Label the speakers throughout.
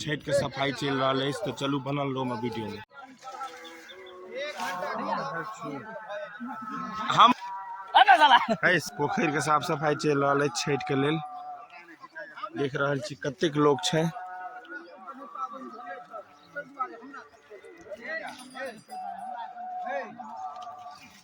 Speaker 1: छठिके सफाइ चलि रहल अछि तऽ चलू बनल रहू हमर वीडियोमे हम पोखरिके साफ सफाइ चलि रहल अछि छठिके लेल देख रहल छी कतेक लोक छै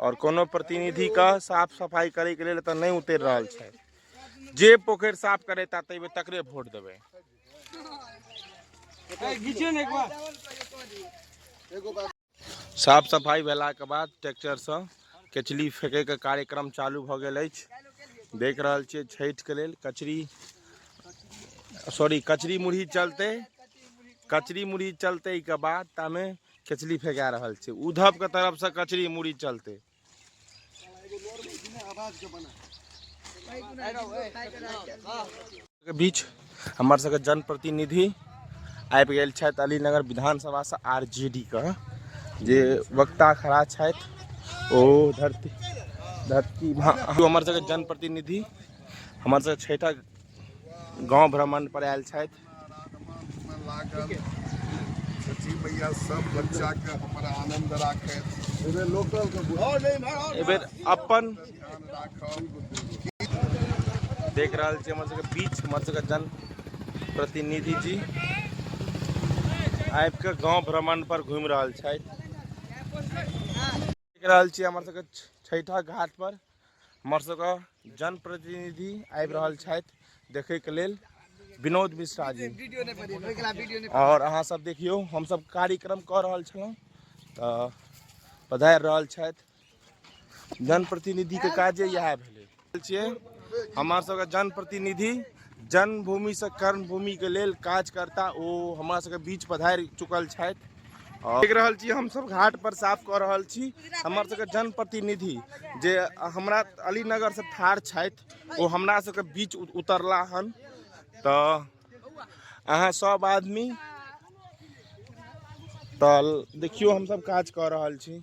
Speaker 1: आओर कोनो प्रतिनिधिके साफ सफाइ करैके लेल एतऽ नहि उतरि रहल छथि जे पोखरि साफ करेता ताहिमे तकरे वोट देबै साफ सफाइ भेलाके बाद ट्रैक्टरसँ कचरी फेंकैके कार्यक्रम चालू भऽ गेल अछि देख रहल छियै छठिके लेल कचरी सॉरी कचरी मुरही चलतै कचरी मुरही चलतैके बाद तामे कचरी फेंका रहल छै उद्धव के तरफ से कचरी मुड़ी चलते के बीच हमर सबके जनप्रतिनिधि आबि गेल छथि अलीनगर विधानसभासँ आर जे डी के जे वक्ता खड़ा छथि ओ धरती धरती महा- हमर सबके जनप्रतिनिधि हमर सबके छठक गाँव भ्रमण पर आयल छथि अपन देख रहल छी हमर सबके बीच हमर सबके जन प्रतिनिधि जी आबि कऽ गाँव भ्रमण पर घुमि रहल छथि देख रहल छी हमर सबके छठा घाट पर हमर सबके जनप्रतिनिधि आबि रहल छथि देखैके लेल विनोद मिश्रा जी आओर अहाँ सब देखियौ हमसब कार्यक्रम कऽ रहल छलहुँ तऽ पधारि रहल छथि जनप्रतिनिधिके काजे इएह भेलै छियै हमर सबके जनप्रतिनिधि जन्मभूमिसँ कर्मभूमिके लेल काज करता ओ हमरा सबके बीच पधारि चुकल छथि देख रहल छी हमसभ घाट पर साफ कऽ रहल छी हमर सबके जनप्रतिनिधि जे हमरा अलीनगर से ठाढ़ छथि ओ हमरा सबके बीच उतरला हन तऽ अहाँ सब आदमी तऽ देखियौ हमसभ काज कऽ रहल छी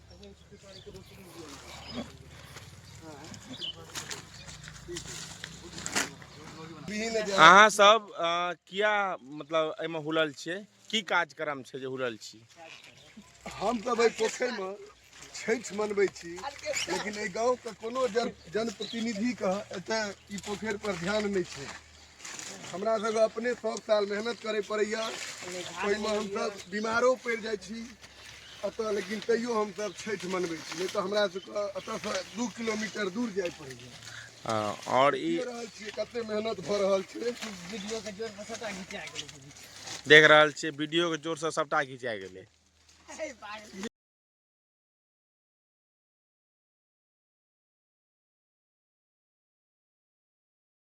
Speaker 1: अहाँ सब अ, किया मतलब एहिमे हुलल छियै की कार्यक्रम छै जे हुलल छी हम तऽ भाई पोखरिमे छठि मनबै छी लेकिन एहि गाँवके कोनो जन जनप्रतिनिधिके एतय ई पोखरि पर ध्यान नहि छै हमरा सबके अपने सौ साल मेहनत करे पड़ैया ओहिमे हमसब बीमारो पड़ि जाइ छी एतऽ लेकिन तैयो हमसब छठि मनबै छी नहि तऽ हमरा सबके एतऽसँ दू किलोमीटर दूर जाय पड़ैया हँ, और ई देखिए रहल छियै कते मेहनत भऽ रहल छै वीडियो के जोर पर सटा घिचा गेलै देख रहल छियै वीडियो के जोर से सबटा घिचा गेलै हे पागल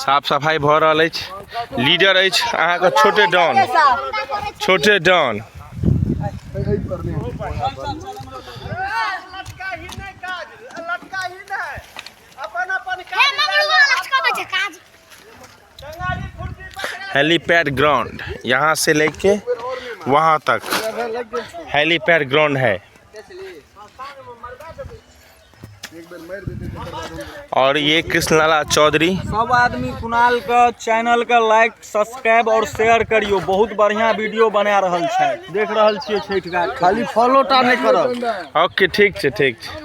Speaker 1: साफ सफाइ भऽ रहल अछि लीडर अछि अहाँके छोटे डॉन छोटे डॉन अपन अपन हेलीपैड ग्राउंड यहाँ से लेके वहाँ तक हेलीपैड ग्राउंड है और ये कृष्णलाला चौधरी सब आदमी कुणाल के चैनल के लाइक सब्सक्राइब और शेयर करियो बहुत बढ़िया वीडियो बना रहल छै देख रहल छियै छठ घाट खाली फॉलो टा नहीं करब ओके ठीक छै ठीक छै